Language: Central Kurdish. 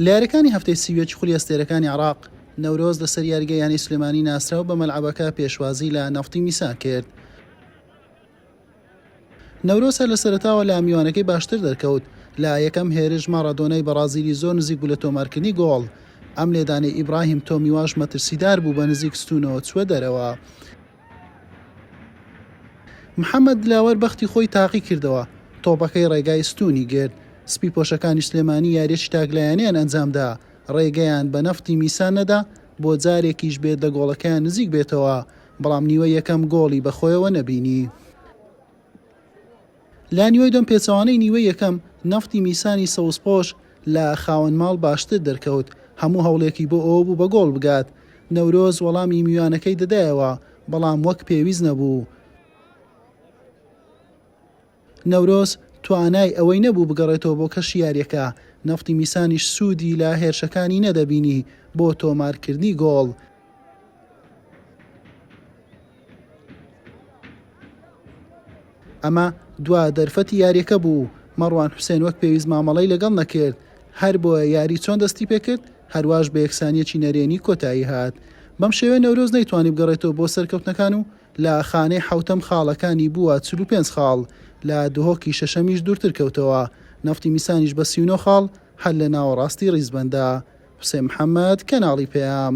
لە یاریەکانی هەفتەی سی و یەکی خولی ئەستێرەکانی عێراق، نەورۆز لەسەر یاریگای یانەی سلێمانی ناسرا و بە مەلعەبەکە پێشوازی لە نەفتی میسان کرد. نەورۆز هەر لە سەرەتاوە لە میوانەکەی باشتر دەرکەوت، لە یەکەم هێرش ماڕادۆنای بەڕازیلی زۆر نزیک بوو لە تۆمارکردنی گۆڵ، ئەم لێدانەی ئیبراهیم تۆمیواش مەترسیدار بوو بە نزیک ستونەوە چووە دەرەوە. محەمەد دلاوەر بەختی خۆی تاقی کردەوە، تۆپەکەی ڕێگای ستوونی گرت، سپی پۆشەکانی سلێمانی یاریەکی تاکلایەنەیان ئەنجامدا، ڕێگەیان بە نەفتی میسان نەدا بۆ جارێکیش بێت لە گۆڵەکەیان نزیک بێتەوە، بەڵام نیوەی یەکەم گۆڵی بەخۆیەوە نەبینی. لە نیوەی دوم پێچەوانەی نیوەی یەکەم نەفتی میسانی سەوزپۆش لە خاوەن ماڵ باشتر دەرکەوت، هەموو هەوڵێکی بۆ ئەوە بوو بە گۆڵ بگات، نەورۆز وەڵامی میوانەکەی دەدایەوە، بەڵام وەک پێویست نەبوو. نەورۆز توانای ئەوەی نەبوو بگەڕێتەوە بۆ کەشی یارییەکە، نەفتی میسانیش سوودی لە هێرشەکانی نەدەبینی بۆ تۆمارکردنی گۆڵ. ئەمە دوا دەرفەتی یاریەکە بوو مەڕوان حوسێن وەک پێویست مامەڵەی لەگەڵ نەکرد هەر بۆیە یاری چۆن دەستی پێکرد هەرواش بە یەکسانیەکی نەرێنی کۆتایی هات بەم شێوێ نەورۆز نەیتوانی بگەڕێتەوە بۆ سەرکەوتنەکان و لە خانەی حوتەم خاڵەکانی بووە 45 خاڵ لە دهۆکی شەشەمیش دوورتر کەوتەوە نەفتی میسانیش بە 39 خاڵ هەر لە ناوەڕاستی ڕیزبەندە حوسێن محەممەد کەناڵی پەیام.